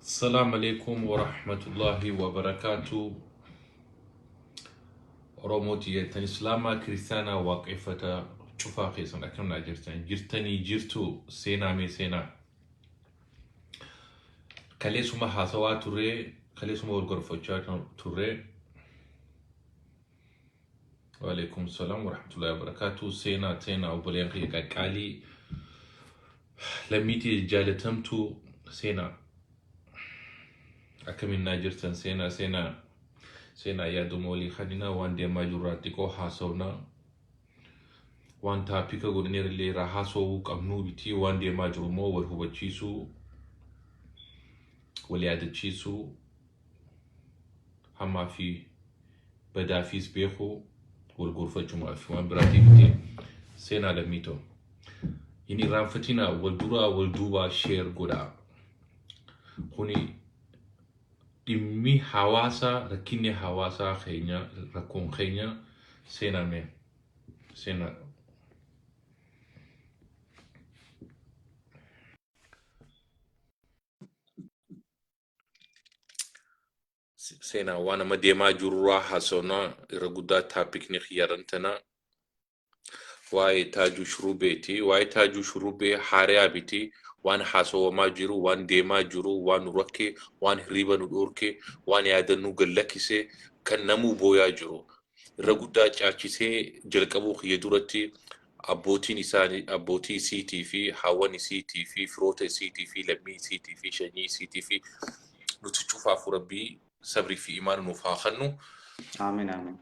Assalam Alekum Warahmatullahi Wabarakatu Oromoo tiyya tan Islaamaa Kiristaanaa Waaqeffata cufaa keessan akkam naa jirtan jirtanii jirtu seenaa mee seenaa kaleessuma haasawaa turree kaleessuma wal gorfachaa turree Waalaikum salaam warahmatullahi wabarakatuh. Seenaa seenaa obboleen kiyya qaqqaalii lammiitii jaalatamtu seenaa akkamiin naa jirtan seenaa seenaa seenaa yaaduma walii kaninaa waan deemaa jirraa xiqqoo haasofnaa waan taapika godhineerallee irraa haasofuu qabnuu bitii waan deemaa jiru immoo wal hubachiisuu wal yaadachiisuu hamaa fi badaafiis beeku wal gorfachumaa fi waan biraatii miti seenaa lammii ta'u. Hin irraanfatinaa wal duraa wal duubaa sheer godhaa. Kuni dhimmi hawaasaa rakkinni hawaasaa keenya rakkoon keenya seenaa mee seenaa seenaa waan amma deemaa jirurraa haasofna irra guddaa taapikni xiyyaarran tana waa'ee taajuu shurubeeti waa'ee taajuu shurubee haariyaa biti waan haasawamaa jiru waan deemaa jiru waan nu rakkee waan hirriiba nu dhoorkee waan yaadannuu gallakkisee kan namuu booyaa jiru irra guddaa caachisee jalqabuu kiyya duratti Abbootiin isaa, abbootii isiitii fi haawwan isiitii fi firoota isiitii fi lammii isiitii fi shanyii isiitii fi nuti cufaafuu Rabbii sabrii fi imaana nuuf haa kannu. Aamiin aamiin.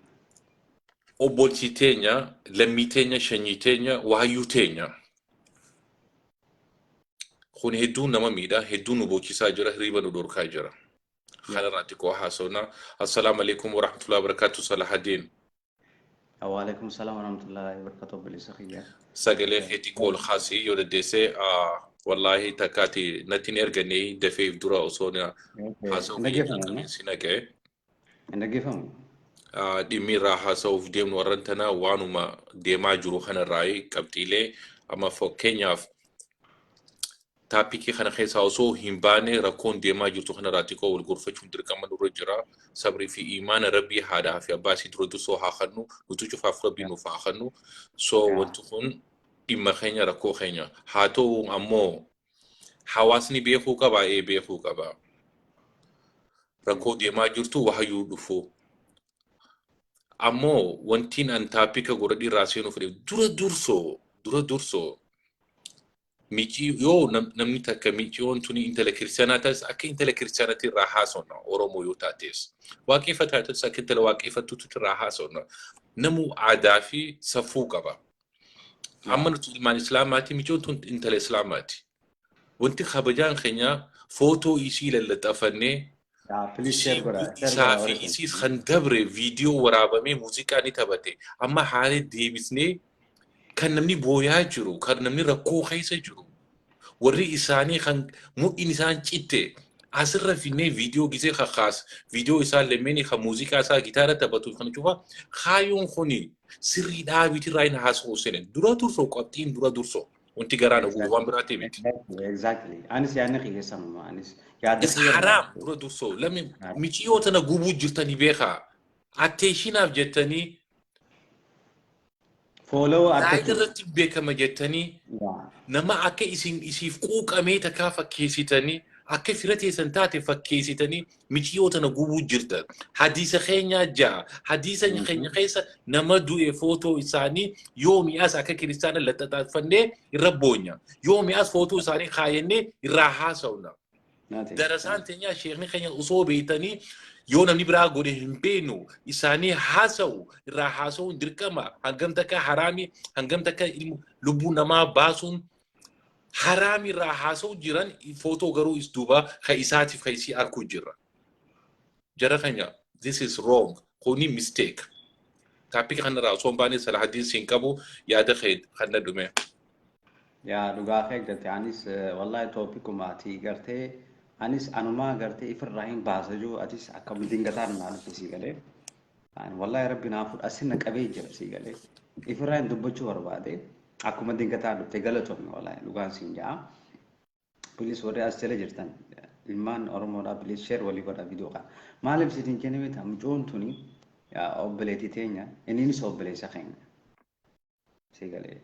Obboltii teenya, lammii teenya, shanyii teenya, waayyuu teenya. Kun hedduu nama miidha, hedduu nu boochisaa jira, hirriba nu dhorkaa jira. Kanarraa xiqqoo haasofna. Assalaamu alaikum warahmatullahi wabarakatuh Salahadeen. Waalaikum salam warahmatullahi wabarakatuh obboleessa kiyya. Sagalee kee xiqqoo ol kaasii yoo dandeesse wallaahi takkaati natti hin ergannee dafee if dura osoo na haasa'u Hin dhaggeeffamu. si naqee Hin dhaggeeffamu. dhimmi irraa haasa'uuf deemnu warran tana waanuma deemaa jiru kanarraa qabxiilee amma fakkeenyaaf Taapikii kana keessaa osoo hin baane rakkoon deemaa jirtu kanarraa xiqqoo wal gorfachuun dirqama nurra jira. Sabrii fi iimaana Rabbii haadhaa fi abbaa isii dura dursoo haa kannu. Nuti cufaaf Rabbii nuuf haa kannu. So wanti kun dhimma keenya rakkoo keenya. Haa ta'u ammoo hawaasni beekuu qabaa? Ee beekuu qaba. Rakkoo deemaa jirtu wahayyuu dhufu. Ammoo wantiin an taapika godhadhii irraa seenuu fedhe dura dursoo dura dursoo Micii yoo nam- namni takka miciyoon tuni intala kiristaanaa taates akka intala kiristaanaatti irraa haasofna Oromoo yoo taates waaqeffataa taates akka intala waaqeffattuutti irraa haasofna namuu aadaa fi safuu qaba. Amma Yaa. nuti ilmaan islaamaati miciyoon tun intala islaamaati. Wanti kabajaan keenya footoo isii lallaxafannee Yaa please share Isiin godha. Share godha isaa fi warri kun. isiis kan dabre viidiyoo waraabamee muuziqaa ni taphate. Amma haala deebisnee kan namni booyaa jiru, kan namni rakkoo keessa jiru, warri isaanii kan mudhiin isaan citte asirra finnee viidiyoo gisee kakaas, viidiyoo isaa lameenii kan muuziqaa isaa gitaara taphatuuf kan cufa kaayyoon kuni sirrii dhaabiitirraa hin haasofsine. Dura dursoo qabxiin dura dursoo. Wanti garaa na gubu waan biraatiif miti. Exactly. Anis yaadni kiyya sanuma. Anis yaada It's kiyya haraam irraa- dura dursoo. Lammi Haraam. miciyoo tana gubuu jirtanii beekaa. Atteeshinaaf jettanii Follow zaayida argachuu. irratti beekama jettanii Yaa. nama akka isin isiif quuqamee takkaa fakkeessitanii akka fira teessan taate fakkeessitanii miciyoo tana gubuu jirta hadiisa keenyaa ja'a hadiisa Mhm. keenya keessa nama du'e footoo isaanii yoomi as akka kiristaana laxaxaafannee irra boonya yoomi as footoo isaanii kaayannee irraa haasawna Naate. darasaan teenyaa sheekni keenya osoo beektanii yoo namni biraa godhe hin beeknu isaanii haasawu irraa haasawuun dirqama hangam takka haraami hangam takka ilmu lubbuu namaa baasuun haraam irraa haasa'u jiran footoo garuu is duuba ka isaatiif ka isii arkuu jirra. Jara keenya this is wrong kuni mistake. Taappika kanarraa osoo hin baane Salahaddiin siin qabu yaada kee kan na dhume. Yaa dhugaa kee garte anis wallahi toopikuma ati gartee anis anumaa gartee ifirraa hin baasa jiru atis akkam dingataan naa dhufe sii galee. An wallahi rabbi naa fudha sin na qabee jira sii galee. Ifirraa hin dubbachuu barbaade akkuma dingataa dhufte galatomi wallahi dhugaan siin ja'a. Bilis warri as jala jirtan ilmaan Oromoodhaa bilis sheer walii godha viidiyoo kana. Maaliif siif hin kenname ta'a mucoon tuni obboleetii teenya inniinis obboleessa keenya. si galee.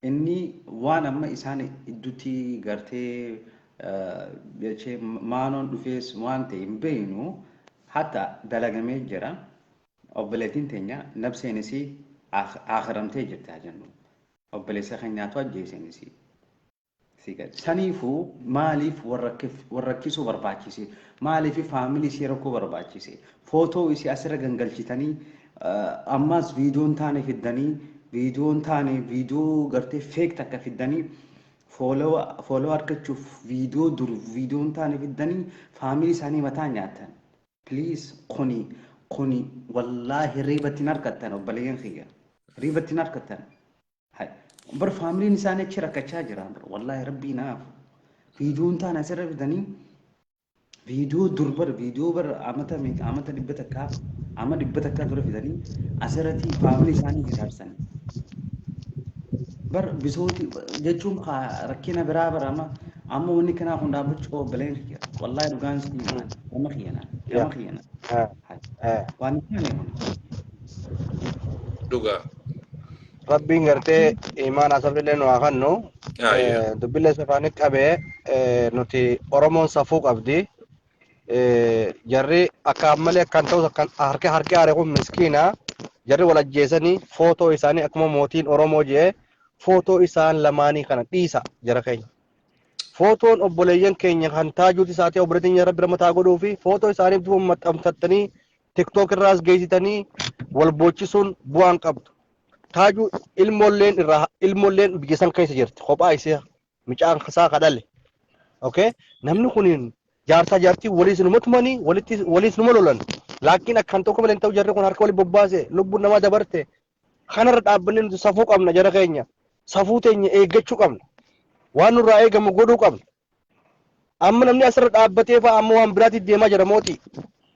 Inni waan amma isaan iddutti gartee eh, jechee maanoon dhufees waan ta'e hin beeknu hatta dalagamee jira. Obboleettiin teenya nabseen isii aak- aakhiramtee jirti haa jennu. Obboleessa keenyaatu ajjeeseen isii. sii galche. Saniifu maaliif wal rakkisuu barbaachise? Maaliif family isii rakkoo barbaachise? Photo isii asirra gangalchitanii ammaas video hin taane fiddanii video hin taane video gartee fake takka fiddanii follow argachuuf video dur video hin taane fiddanii family isaanii mataa nyaatan. Please kuni kuni wallaahi riibatti hin harkattan obboleeyyan kiyya. Riibatti hin harkattan. Hay. Bar faamiliin isaanii achi rakkachaa jira. Bar wallaahi rabbii naaf. Viidiyoon taan asirra fidanii viidiyoo dur bar viidiyoo bar amata meeqa amata dhibba takkaa ama dhibba takkaa dura fidanii asirratti faamilii isaanii hiraarsan. Bar bisooti jechuun kaa rakkina biraa bar amma amma wanni kanaa kun dhaabbachuu qaba baleen kiyya. Wallaahi dhugaan si himaa nama kiyyana nama Yaa. kiyyana. Ah, Hay. ah. Waan hin taane kun. Dhugaa. Rabbiin gartee imaanaa sabriillee nu haa kennu. Ayyo. Eh, Dubbillee safaanii qabee eh, nuti Oromoon safuu qabdi. Eh, Jarri akka ammalee akkan ta'us akkan harki harki haare kun miskiina. Jarri wal ajjeesanii footoo isaanii akkuma mootiin Oromoo jee footoo isaan lamaanii kana dhiisa jara keenya. Footoon obboleeyyan keenya kan taajuuti isaatee obboleetiin rabbi ramataa godhuu fi footoo isaaniif duuba maxxanfattanii tiktok irraas geessitanii wal boochisuun bu'aan qabdu. Taajuu ilmoolleen irraa ilmoolleen biyya san keessa jirti kophaa isee micaan isaa kadhale. Okay? Namni kun jaarsaa jaartii waliis numa tumanii walitti waliis numa lolan. Laakiin akkan tokko malee hin ta'u jarri kun harka waliin bobbaase lubbuun namaa dabarte. Kanarra dhaabbanni nuti safuu qabna jara keenya. Safuu teenya eeggachuu qabna. Waan nurraa eegamu godhuu qabna. Amma namni asirra dhaabbatee fa'a amma waan biraatiif deemaa jira mootii.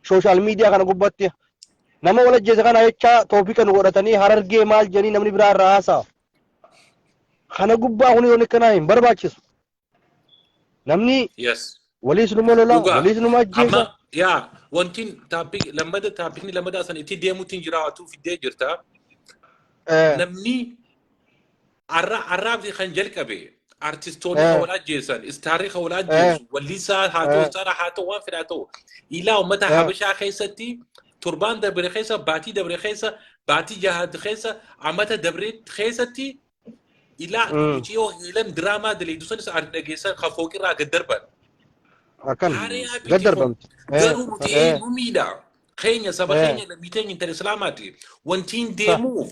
Sooshaal miidiyaa kana gubbatti. Nama wal ajjeese kana jecha toopika nu godhatanii harargee maal jedhanii namni biraa irraa haasa'a. Kana gubbaa kun yoon akkanaa hin barbaachisu. Namni Yes. waliis numa lola, Dhugaa. waliis numa ajjeesa. Amma yaa wantiin taappik lammada taappikni lammadaa san itti deemuutiin jiraatu fiddee jirta. Eh, Namni Arra arraabsi kan jalqabe artistoonni Eh. kan wal ajjeessan, istaarri kan wal ajjeessu, wallisaa haa ta'u, Eh. istaara haa ta'u, waan fedhaa ta'u. Ilaa uummata Eh. Habashaa keessatti torbaan dabre keessa, baatii dabre keessa, baatii jaha keessa, amata dabre keessatti ilaa Mm. muciyoo heelan diraamaa daleedu sanis ardi dhageessan kan fooqirraa gad darban. Akkan Hariyaa gad darbamti. Eh, Garuu nuti eh, eenyu miidha. Keenya saba Eh. keenya lammiiteen intala islaamaati. Wantiin deemuuf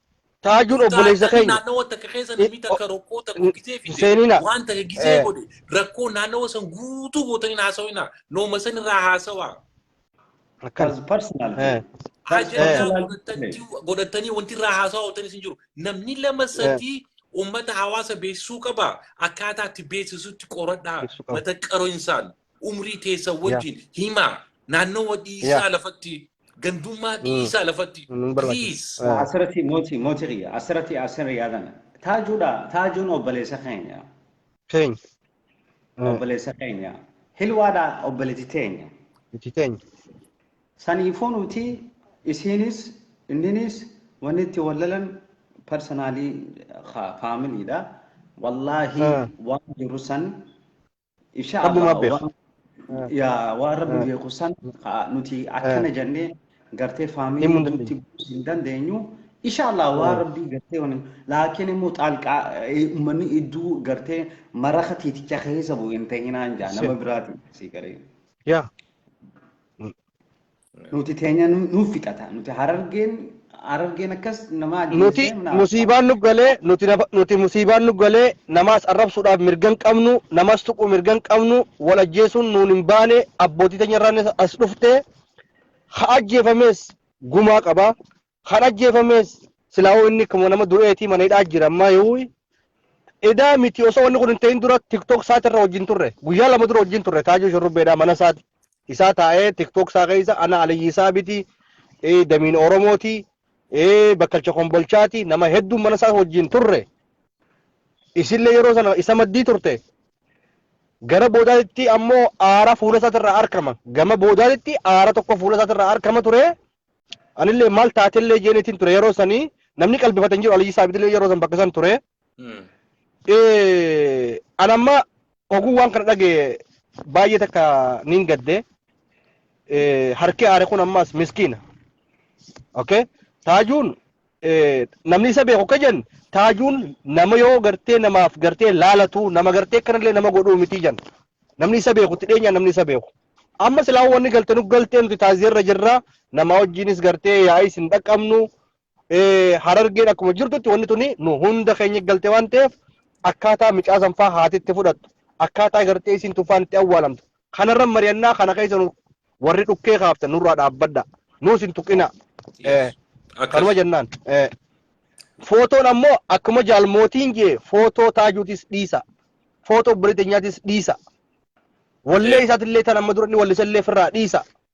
Taajuun Kun obboleessa taatanii keenya. naannawa takka keessa namni I- takka o- rakkoo takka n- gisee fide seenina. waan takka gisee Eh. godhe rakkoo naannawa san guutuu gootanii hin haasawina nooma san irraa haasawaa Akkana. As personal. Eh. ajandaa personal- godhatanii godhatanii wanti irraa haasawaa ooltan isin jiru namni lama sadii ummata hawaasa beeksisuu qaba akkaataa itti beeksisutti qoradhaa Beeksisuu qaba. mata qaro insaan umrii teessan wajjin himaa naannawa dhiisaa lafatti gandummaa dhiisaa lafatti please. Asirratti mootii mootii kiyya asirratti asirra yaadan taajuudha taajuun obboleessa keenya. Keenya. Obboleessa keenya hilwaadha obboleetti teenya. Itti teenya. Saniifuu nuti isiinis inninis wanni itti wallalan parsanaalii faamiliidha. Wallaahi waan jiru san Insha Rabbumaa Allah beeka. waan yaa waan rabbi beeku san haa nuti akkana jennee gartee Himuu faamilii hin guutti dandeenyu. buusuu hin dandeenyu. Insha Allah waan Mm. rabbii gartee wani laakiin immoo xaalqaa eh, ummanni idduu gartee maraka tiiticha keessa bu'u hin ta'inaan jaa nama Ishee. biraatiin sii garee. Yaa. Nuti teenya nu- nuuf fixata. Nuti harargeen harargeen akkas nama nuti ajjeessee naaf ta'a. musiibaan nu galee nuti nafa- nuti musiibaan nu galee namaas arrabsuudhaaf mirga hin qabnu namaas tuquu mirga hin qabnu wal ajjeesuun nuun hin baane abbootii teenya irraan as dhufte ha ajjeefamees gumaa qaba Kan ajjeefamees silaahuu inni akkuma nama du'eetii mana hidhaa jira ammaa yoo edaa miti osoo wanni kun hin ta'in dura tiktok isaati irra wajjin turre guyyaa lama dura wajjin turre taajuu shurrubbeedhaa mana isaati isaa taa'ee tiktok isaa keessa ana aliyyi isaa biti eh, damiin oromooti eh, bakkalcha kombolchaati nama hedduun mana isaa wajjin turre isillee yeroo sana isa maddii turte gara boodaatti ammoo aara fuula isaati irraa arkama gama boodaatti aara tokko fuula isaati irraa arkama ture Anillee maal taatellee jeenitiin ture yeroo sanii namni qalbifate hin jiru Aliyyi Saabidillee yeroo san bakka san ture. Eh, An amma oguu waan kana dhaga'e baay'ee takka niin gadde. Eh, Harki aare kun ammaas miskiina. Okay? Taajuun namni isa beeku akka jedhan taajuun nama yoo gartee namaaf gartee laalatu nama gartee kanallee nama godhuu miti jedhan namni isa beeku itti dhiyeenyaan namni isa beeku amma silaa wanni galte nu galtee nuti taaziyarra jirra nama wajjiinis gartee yaa'is hin dhaqqabnu harargeen akkuma jirtutti wanni tuni nu hunda keenya galte waan ta'eef akkaataa micaasan faa haatitti fudhattu akkaataa gartee isin tufaan itti awwaalamtu Kanarra mari'annaa kana keessa nu warri dhukkee kaaftan nurraa dhaabbadha. Nuus hin tuqina. Eh, Yes. Kanuma Akkas. jennaan. Eh, Footoon ammoo akkuma jaalmootiin jee footoo taajuutis dhiisa. Footoo obboleetti nyaatis dhiisa. Wallee Eh. isaatillee tan amma dura inni wallisallee firraa dhiisa.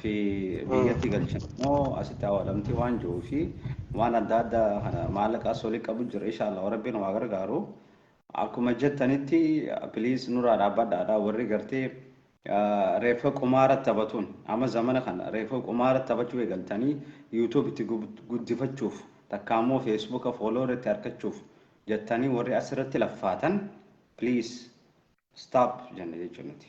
fi biyyatti galchan immoo asitti awaalamti waan jiruu fi waan adda addaa kana maallaqa as olii qabu jira inshaallah rabbiin waa gargaaru akkuma jettanitti piliis nurraa dhaabbadhaadha warri gartee reeffa qumaara taphatuun amma zamana kana reeffa qumaara taphachuu eegaltanii yuutuub itti guddifachuuf takka ammoo feesbuuka fooloo irratti argachuuf jettanii warri asirratti laffaatan piliis staap jenna jechuun nuti.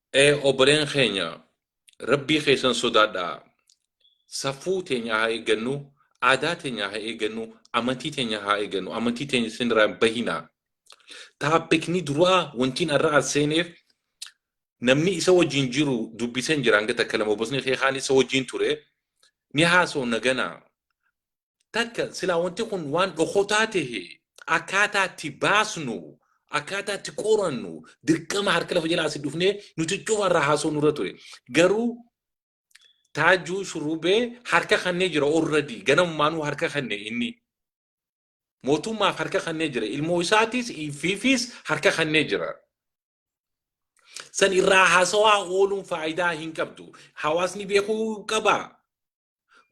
Ee obboleen keenya rabbii keessan sodaadhaa safuu teenya haa eeggannu aadaa teenya haa eeggannu amantii teenya haa eeggannu amantii teenya isinirraa hin bahinaa taappikni duraa wantiin har'a as seeneef namni isa wajjin jiru dubbisen jira hanga takka lama obosni kee kaan isa wajjin ture ni haasoo nagana Takka silaa wanti kun waan dhokotaa tahe akkaataa itti baasnu akkaataa itti qorannu dirqama harka lafa jalaa asi dhufnee nuti cufa irraa haasoo nurra ture. Garuu taajuu shurrubee harka kannee jira orradii ganamumaanuu harka kanne inni. Mootummaaf harka kannee jira ilmoo isaatis fiifis harka kannee jira. San irraa haasawaa ooluun faayidaa hin qabdu. Hawaasni beekuu qabaa.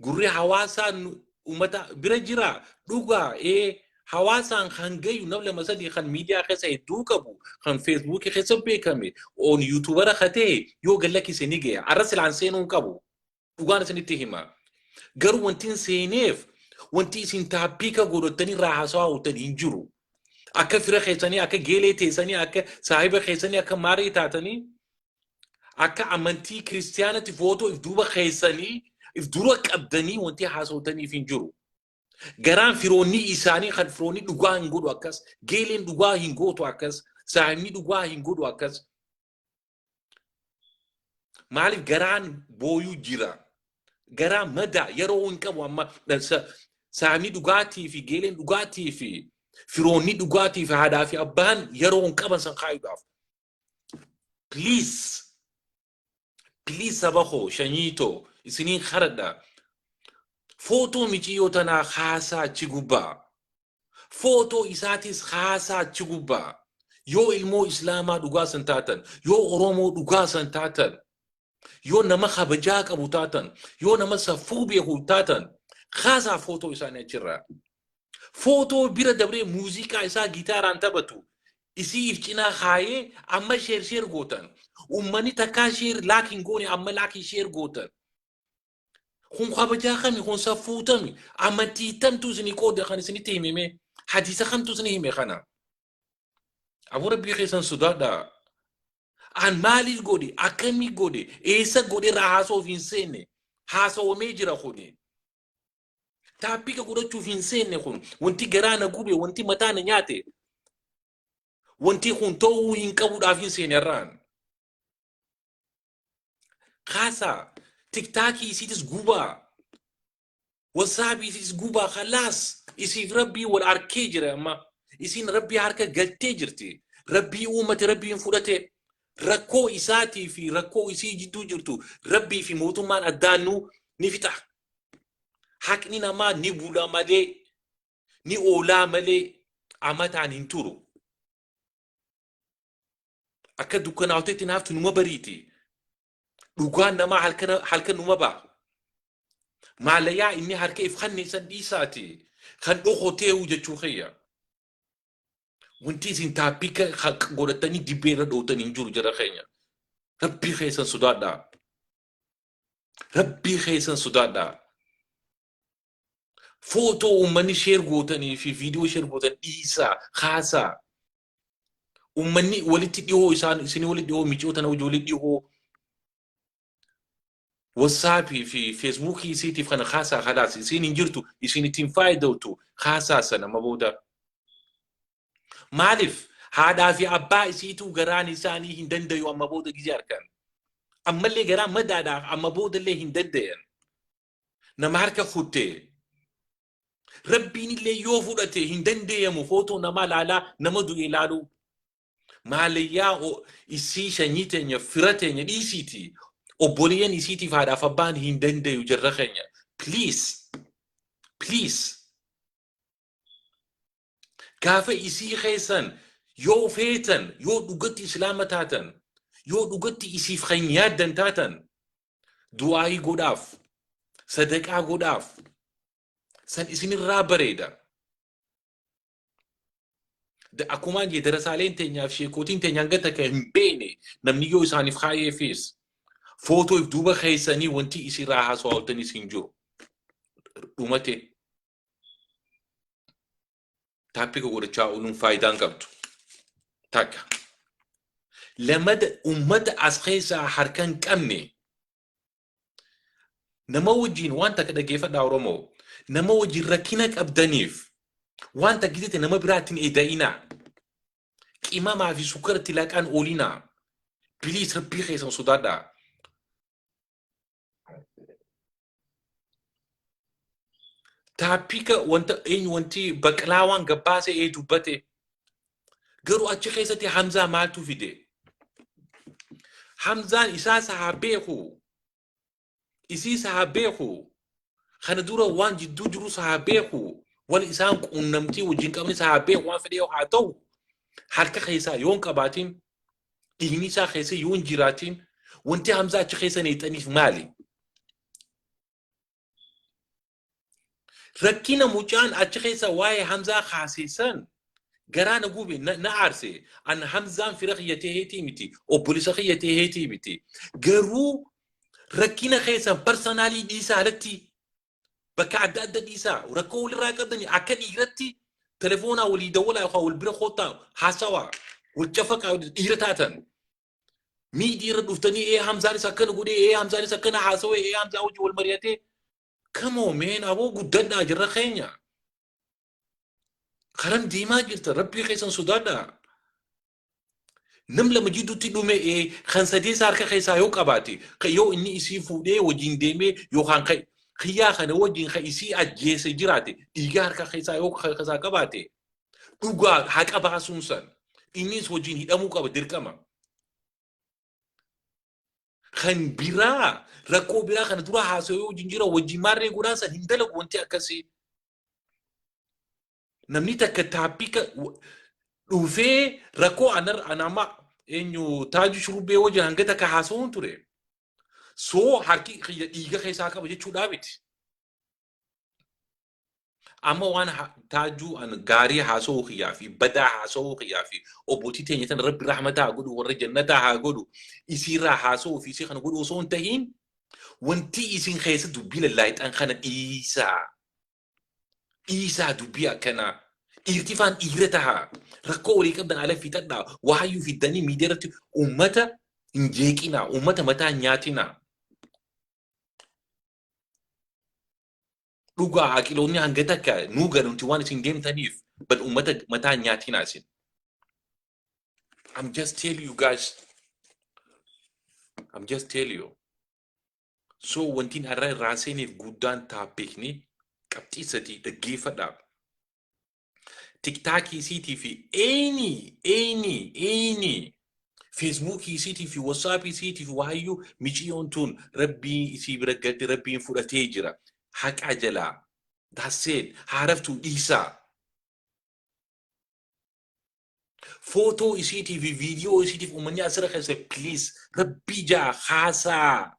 Gurri hawaasaa nu- uummata bira jira dhugaa ee hawaasaan kan gayu nam lama sadii kan miidiyaa keessa hedduu qabu kan feesbuukii keessa beekame oon yuutuubara ka ta'e yoo gad lakkise ni gaya arra silaan seenuu hin qabu dhugaan isinitti hima garuu wanti hin seeneef wanti isin taappiika godhattanii irraa haasawaa hawwatan hin jiru akka fira keessanii akka geelee teessanii akka saahiba keessanii akka maarii taatanii akka amantii kiristiyaanatti footoo if duuba keessanii if dura qabdanii wanti haasawtaniif hin jiru. Garaan firoonni isaanii kan firoonni dhugaa hin godhu akkas, geeleen dhugaa hin gootu akkas, saahibni dhugaa hin godhu akkas. Maaliif garaan booyuu jira? Garaa madaa yeroo hin qabu amma saahibni dhugaatii fi geeleen dhugaatii fi firoonni dhugaatii fi haadhaa fi abbaan yeroo hin qaban san kaayuudhaaf. Please. Please saba koo shanyii too isinii haradha. Footoo miciyyoo tanaa haasaa achi gubbaa. Footoo isaatis haasaa achi gubbaa. Yoo ilmoo islaamaa dhugaa san taatan, yoo oromoo dhugaa san taatan, Yoo nama kabajaa qabu taatan, yoo nama safuu beeku taatan, kaasaa footoo isaanii achirraa. Footoo bira dabree muuziqaa isaa gitaaraan taphatu isii if cinaa kaayee amma sheer sheer gootan. Uummanni takkaa sheer laak hin goone amma laakii sheer gootan. Kun kabajaa kami, kun safuu tami, amantii tamtu isinii qooda kan isinitti himime, hadiisa kamtu isinii hime kana. Aboo rabbii keessan sodaadha. An maaliif godhe akkamii godhe eessa godhe irraa haasa'uuf hin seenne haasa'amee jira kuni. Taappika godhachuuf hin seenne kun wanti garaa na gube wanti mataa na nyaate wanti kun ta'uu hin qabuudhaaf hin seenne irraan. Kaasaa tiktaakii isiitis gubaa Wasaabifis gubaa khalaas isiif rabbii wal arkee jira amma isiin rabbii harka galtee jirti rabbii uumate rabbiin fudhate rakkoo isaatii fi rakkoo isii jidduu jirtu rabbii fi mootummaan addaan nu ni fixa haqni namaa ni bula malee ni oolaa malee amataan hin turu akka dukkanaa'utetti naaftu numa bariiti Dhugaan namaa halkan halkan numa ba'a. Maalayaa inni harka if kanneen san dhiisaati kan dhokoteehu jechuu kiyya. Wanti isin taappika godhatanii dibbee irra dhootan hin jiru jara keenya. Rabbii keessan sodaadhaa. Rabbii keessan sodaadhaa. Footoo uummanni sheer gootanii fi viidiyoo sheer gootan dhiisaa kaasaa. Uummanni walitti dhihoo isaan isin walitti dhihoo micoota na ijoollee dhihoo wasaapii fi feesbuukii isiitiif kana haasaa halaas isiin hin jirtu isiin ittiin faayidawtu haasaa sana ma booda. Maaliif haadhaa fi abbaa isiituu garaan isaanii hin dandayu amma booda gizee harkaan. Ammallee garaa madaadhaa amma boodallee hin dandayan. Nama harka kuttee Rabbiin illee yoo fudhate hin dandeeyamu footoo namaa laalaa nama du'e laaluu. Maalayyaa o- isii shanyii teenya fira teenya dhiisiiti. Obboleeyyan isiitiif haadhaaf abbaan hin dandeeyu jarra keenya. Please. Please. gaafa isii keessan yoo feetan yoo dhugatti islaama taatan yoo dhugatti isiif kan yaaddan taatan du'aayii godhaaf sadaqaa godhaaf san isinirraa bareeda Da- akkuma jee darasaaleen teenyaaf sheekootiin teenya hanga takka hin beekne namni yoo isaaniif kaa'eefis footoof duuba keessanii wanti isinirraa haasawaattanis hin jiru dhumate taappika godhachaa ooluun faayidaa hin qabdu. Takka. Lamada uummata as keessaa harka hin qabne nama wajjin waan takka dhaggeeffadhaa Oromoo nama wajjin rakkina qabdaniif waan takka jette nama biraatiin eeda'inaa qimamaa fi sukkaratti laqaan oolinaa biliis rabbii keessan sodaadhaa. Taappika wanta eenyu wanti baqlaawaan gabbaase ee dubbate garuu achi keessatti Hamzaa maaltu fide? Hamzaan isaa sahaa beeku isii sahaa beeku kana dura waan jidduu jiru sahaa beeku wal isaan quunnamtii wajjin qabni sahaa beeku waan fedhe yoo haa ta'u harka keessaa yoon qabaatiin dhiigni isaa keessa yoo hin jiraatiin wanti hamzaa achi keessa neexaniif maali? Rakkina mucaan achi keessa waa'ee hamzaa kaaseessan garaa na gube na na aarse an hamzaan fira kiyya ta'eetii miti obbolisa kiyya ta'eetii miti garuu rakkina keessan parsanaalii dhiisaa alatti bakka adda adda dhiisaa rakkoo walirraa qabdanii akka dhiiratti telefoonaa walii dawwalaa yookaan wal bira koottaa haasawaa wal cafaqaa dhiira taatan miidii irra dhuftanii ee hamzaanis akkana godhee ee hamzaanis akkana haasawee ee hamzaa hojii wal mari'atee kamoo meen aboo guddadhaa jirra keenya karan deemaa jirta rabbii keessan sodaadhaa nam lama jidduutti dhume ee, kan sadeessa harka keessaa yoo qabaate kan yoo inni isii fuudhee wajjin deemee yookaan kan kiyyaa kana wajjin kan isii ajjeese jiraate dhiiga harka keessaa yoo kan keessaa qabaate dhugaa haqa baasuun san innis wajjin hidhamuu qaba dirqama. Kan biraa rakkoo biraa kana dura haasawee wajjin jira wajjin maarree godhaa san hin dalagu wanti akkasii. Namni takka taappika dhufee rakkoo anar anama eenyu taaju shurbee wajjin hanga takka haasawuun ture. Soo harki kiyya dhiiga keessaa qaba jechuudhaa miti. Amma waan ha- taajuu an gaarii haasawuu kiyyaa fi badaa haasawuu kiyyaa fi obbootii teenya tan rabbi rahmataa haa godhu warra jannataa haa godhu isiirraa haasawuu fi isii kana godhu osoo hin tahiin wanti isin keessa dubbii lallaayxan kana dhiisaa. dhiisaa dubbii akkanaa dhiirtifaan dhiira tahaa rakkoo walii qabdan ala fixadhaa waayyuu fiddanii miidiyaa irratti uummata hin jeeqinaa uummata mataa hin nyaatinaa dhugaa aqiloonni hanga takka nuu ganuuti waan isin deemtaniif bad uummata mataa hin nyaatinaa isin I'm just tell you guys I'm just tell you So wantiin har'a irraan seeneef guddaan taappiikni qabxii sadii dhaggeeffadha. Tiktaakii isiitii fi eeyni eeyni eeyni feesbuukii isiitii fi wasaapii isiitii fi waayyuu miciyoon tuun rabbii isii bira galte rabbiin fudhatee jira. Haqaa jalaa daasseen haaraftuu dhiisaa. Footoo isiitii fi viidiyoo isiitiif uummanni asirra keessa please rabbii jaa haasaa.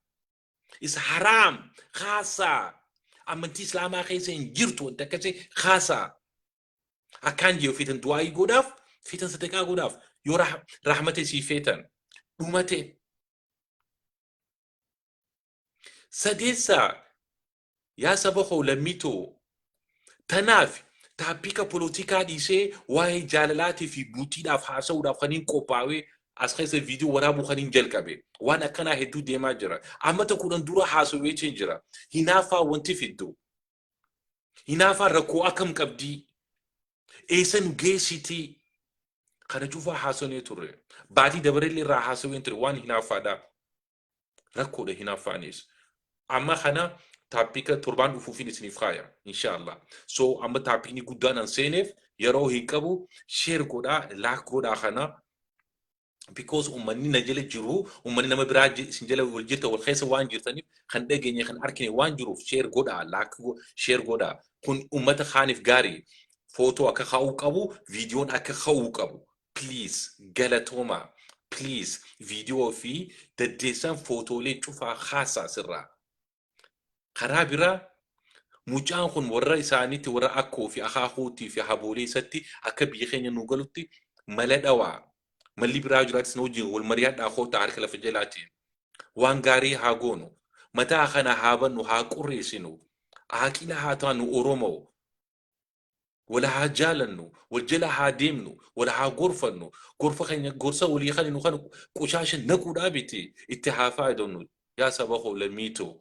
Is haraam haasaa. Amantii islaamaa keessa hin jirtu wanti akkasii haasaa. Akkaan jee feetan du'aayii godhaaf feetan sadaqaa godhaaf yoo rah- rahmata isii feetan dhumate. Sadeessaa Yaa saba koo lammii too! Tanaaf taappika polotikaa dhiisee waa'ee jaalalaatii fi bultiidhaaf haasa'uudhaaf kaniin qophaawee as keessa viidiyoo waraabuu kaniin jalqabe. Waan akkanaa hedduu deemaa jira. Ammata kudhan dura haasa'u jecheen jira. Hinaafaa wanti fiddu. Hinaafaa rakkoo akkam qabdii? Eessa nu geessitii? Kana cufaa haasonee turre. Baatii dabarellee irraa haasaween ture waan hinaaffaadhaa. rakkoodha hinaaffaanis amma kana taappika torbaan dhufuufin isiniif kaaya inshaallah so amma taappikni guddaan an seeneef yeroo hin qabu sheer godhaa laak godhaa kana because ummanni na jala jiru ummanni nama biraa ji- isin jala wal jirta wal keessa waan jirtaniif kan dhageenye kan arkine waan jiruuf sheer godhaa laak sheer godhaa kun ummata kaaniif gaarii footoo akka ka'uu qabu viidiyoon akka ka'uu qabu please galatoomaa please viidiyoo fi daddeessaan footoolee cufaa haasaa sirraa karaa biraa mucaan kun warra isaaniitti warra akkoo fi akaakuutii fi haboolee isatti akka biyya keenya nu galutti mala dhawaa malli biraa jiraatis na wajjin wal mari'adhaa kootaa harka lafa jalaatiin waan gaarii haa goonu mataa kana haa bannu haa qurreessinu haaqila haa taanu oromoo Wal haa jaalannu, wal jala haa deemnu, wal haa gorfannu, gorfa keenya gorsa walii kan nu kan qushaasha naquudhaa biti itti haa faayadamnu. Yaa saba koo lammii too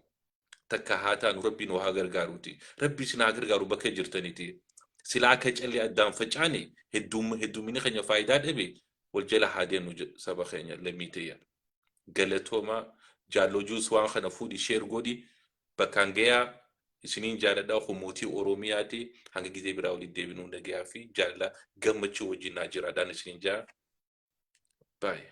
takka haa taanu rabbi nu haa gargaaruuti. Rabbi isin haa gargaaru bakka jirtaniti. Silaa akka callee addaan facaane hedduum hedduumini keenya faayidaa dhabe wal jala haa deemnu je- saba keenya lammii tiyya. Galatoomaa jaalloo juus waan kana fuudhi sheer godhi bakkaan gayaa isiniin jaaladha kun mootii oromiyaati hanga gizee biraa walitti deebinuu nagayaa fi jaalala gammachuu wajjin naa jiraadhaan isiniin jaa baay'ee.